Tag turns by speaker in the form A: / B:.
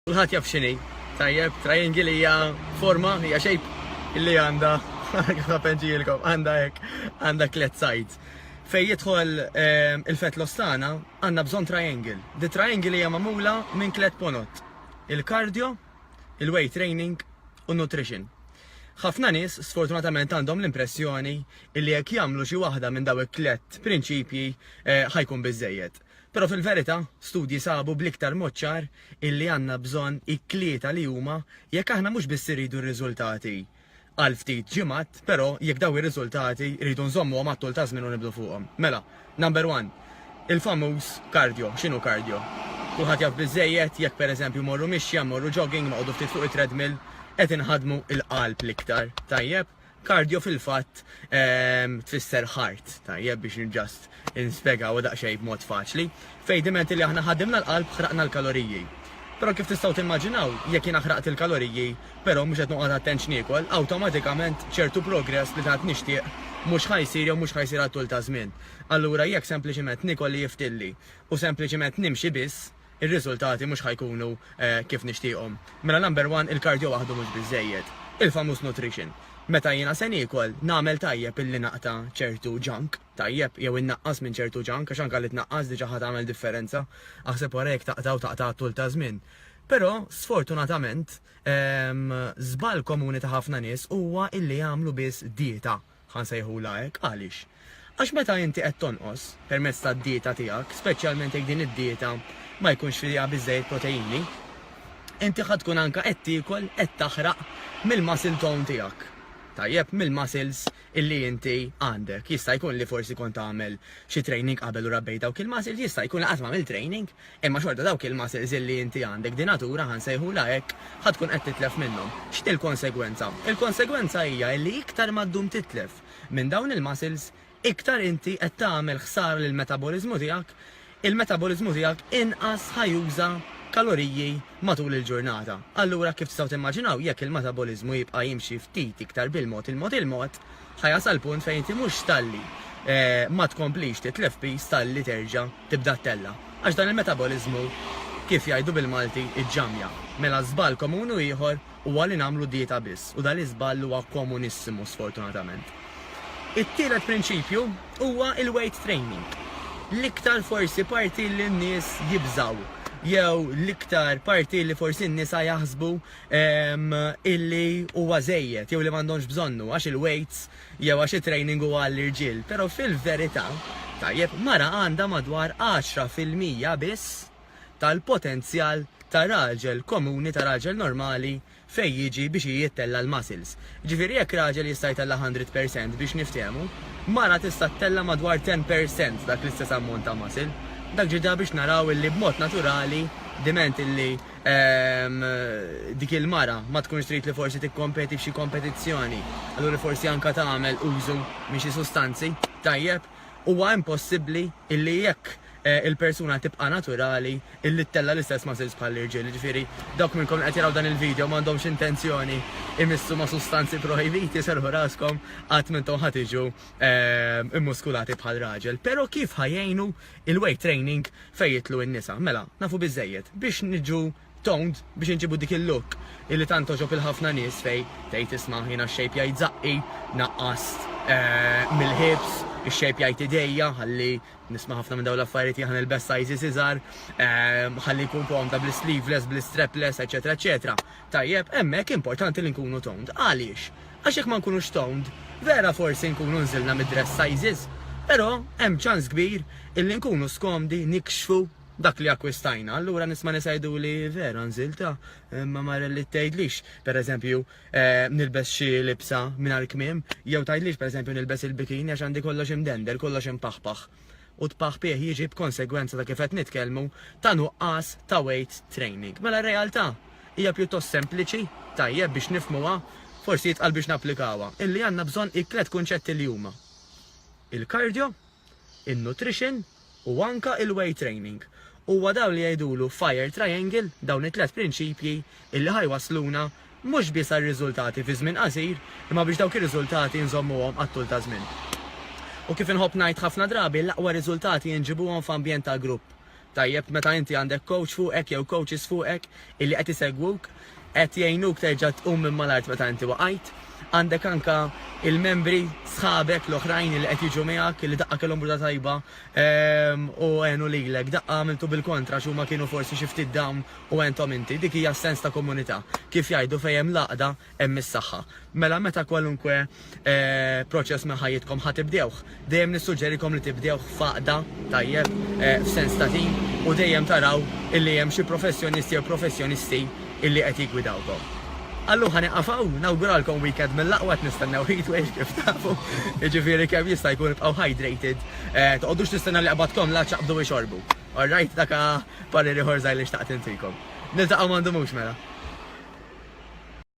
A: Kulħadd jaf x'inhi, tajjeb, triangle hija forma, hija shape illi għandha kif ħapenġielkom, għandha hekk, għandha tliet sides. Fejn jidħol ehm, il-fett l-ostana, għandna bżonn triangle. Di triangle hija magħmula minn tliet ponot. Il-cardio, il-weight training u nutrition. Ħafna nies sfortunatament għandhom l-impressjoni li jekk jagħmlu xi waħda minn daw it-tliet prinċipji eh, ħajkun biżejjed. Però fil-verità, studji sabu bl-iktar mod ċar illi għandna bżonn it-tlieta li huma jekk aħna mhux biss irridu r-riżultati għal ftit ġimgħat, però jekk dawn ir-riżultati rridu nżommuhom għat-tul ta' żmien u nibnu fuqhom. Mela, number one, il-famuż cardio. X'inhu cardio? Kulħadd jaf biżżejjed, jekk pereżempju mmorru mixja, mmorru jogging, noqogħdu ftit fuq it-treadmill, qed inħaddmu l-qalb l-iktar, tajjeb? Cardio fil-fatt tfisser ħart, tajjeb biex ġast inspjegaw daqsxejn b'mod faċli. Fejn dimenti li aħna ħadimna l-qalb ħraqna l-kaloriji. Però kif tistgħu timmaġinaw, jekk jiena ħraqt il-kaloriji, però mhux qed noqgħod attent x'niekol, awtomatikament ċertu progress li tant nixtieq mhux ħa jsir jew mhux ħa jsir għat-tul ta' żmien. Allura jekk sempliċiment niekol li jiftilli u sempliċiment nimxi biss, ir-riżultati mhux ħa jkunu kif nixtieqhom. Mela number one, il-cardio waħdu mhux biżżejjed. Il-famuż nutrition. Meta jiena se niekol, nagħmel tajjeb illi naqta' ċertu junk, tajjeb, jew innaqqas minn ċertu junk, għax anke li tnaqqas diġà ħa tagħmel differenza. Aħseb wara jekk taqta' u taqta' għat-tul ta' żmien. Però, sfortunatament, żball komuni ta' ħafna nies huwa illi jagħmlu biss dieta. Ħa nsejħulha hekk, għaliex? Għax meta inti qed tonqos, permezz tad-dieta tiegħek, speċjalment jekk din id-dieta ma jkunx fiha biżżejjed proteini, inti ħa tkun anke qed tiekol, qed taħraq mill-muscle tone tiegħek. Tajjeb, mill-muscles illi inti għandek. Jista' jkun li forsi kont tagħmel xi training qabel u rabbejt dawk il-muscles, jista' jkun li qatt m'għamilt training, Imma xorta dawk il-muscles illi inti għandek, di natura, ħa nsejħulha hekk, ħa tkun qed titlef minnhom. X'inhi l-konsegwenza? Il-konsegwenza hija illi iktar ma ddum titlef minn dawn il-muscles, iktar inti qed tagħmel ħsara lill-metaboliżmu tiegħek, il-metaboliżmu tiegħek inqas ħa juża kaloriji matul il-ġurnata. Allura kif tistgħu timmaġinaw, jekk il-metaboliżmu jibqa' jimxi ftit iktar bil-mod, il-mod, il-mod, Ħa jasal punt fejn inti mhux talli ma tkomplix titlef piż talli terġa' tibda ttella'. Għax dan il-metaboliżmu kif jgħidu bil-Malti iġġammja. Mela żball komun u ieħor huwa li nagħmlu dieta biss u dan l-iżball huwa komunissimu sfortunatament. It-tielet prinċipju huwa l-weight training. L-iktar forsi parti li n-nies jibżgħu jew l-iktar parti li forsi n-nisa jaħsbu illi huwa żejjed jew li m'għandhomx bżonnu għax il-weights jew għax it-training huwa għall-irġiel, però fil-verità, tajjeb, mara għandha madwar 10 fil-mija biss tal-potenzjal ta' raġel komuni, ta' raġel normali fejn jiġi biex hi ittella' l-muscles. Jiġifieri jekk raġel jista' jtella' hundred per cent biex niftehmu, mara tista' ttella' madwar ten per cent dak l-istess ammont ta' muscle. Dak ġie ġa biex naraw illi b'mod naturali, diment illi dik il-mara ma tkunx trid li forsi tikkompeti f'xi kompetizzjoni, allura forsi anke tagħmel użu minn xi sustanzi, tajjeb, huwa impossibbli illi jekk il-persuna tibqa' naturali illi ttella' l-istess muscles bħall-irġiel. Jiġifieri dawk minnkom li qed jaraw dan il-video m'għandhomx intenzjoni imissu ma' sustanzi projbiti serrħu raskom qatt m'intom ħa tiġu mmuskulati bħal raġel. Però kif ħa jgħinu Il-weight training fejn jidħlu n-nisa. Mela, nafu biżżejjed biex niġu toned, biex inġibu dik il-look illi tant togħġob lil ħafna nies fejn tgħid isma' jiena x-shape jgħid żaqqi, naqqast mill-hips, ix-shape jgħid idejja, ħalli, nisma' ħafna minn dawn l-affarijiet, jiena nilbes sizes iżgħar, ħalli nkun komda bl-sleeveless, bl-strapless, eċċetera eċċetera. Tajjeb, hemmhekk importanti li nkunu toned. Għaliex? Għax jekk ma nkunux toned, vera forsi nkunu nżilna mid-dress sizes, però hemm ċans kbir illi nkunu skomdi nikxfu dak li akkwistajna. Allura nies ma' nies jgħiduli, vera nżilt ha, imma ma rellittejdlix, pereżempju, nilbes xi libsa mingħajr kmiem, jew tgħidlix pereżempju nilbes il-bikini għax għandi kollox imdendel, kollox impaħpaħ. u t-tpahpih jiġi b'konsegwenza ta' kif qed nitkellmu ta' nuqqas ta' weight training. Mela r-realtà hija pjuttost sempliċi, tajjeb biex nifhmuha, forsi itqal biex napplikawha, illi għandna bżonn it-tliet kunċetti li huma, il-cardio, in-nutrition u anke il-weight training. Huwa dawn li jgħidulu fire triangle, dawn it-tliet prinċipji illi ħa jwassluna Mhux biss għal riżultati fi żmien qasir, imma biex dawk ir-riżultati nżommuhom għat-tul ta' żmien. U kif inħobb ngħid ħafna drabi, l-aqwa riżultati jinġibuhom f'ambjent ta' grupp. Tajjeb meta inti għandek kowċ fuqek jew kowċis fuqek illi qed isegwuk, qed jgħinuk terġa' tqum minn mal-art meta inti waqajt. Għandek anke l-membri, sħabek l-oħrajn illi qed jiġu miegħek, illi daqqa kellhom bruta tajba u għenu lilek, daqqa għamiltu bil-kontra għax huma kienu forsi xi ftit down u entom inti, dik hija s-sens ta' komunità. Kif jgħidu fejn hemm l-għaqda hemm is-saħħa. Mela meta kwalunkwe proċess minn ħajjitkom ħa tibdewh, dejjem nissuġġerikom li tibdewh f'għaqda, tajjeb, f'sens ta' tim, u dejjem taraw illi hemm xi professjonist jew professjonisti illi qed jiggwidawkom. Allum ħa nieqaf hawn, nawguralkom weekend mill-aqwa qed nistennew heatwave kif tafu, jiġifieri kemm jista' jkun ibqgħu hydrated, toqgħodux tistennew li qbadkom la ċaqbdu u xorbu. All right, dak parir ieħor żgħir li xtaqt intikom. Niltaqgħu m'għandumux mela.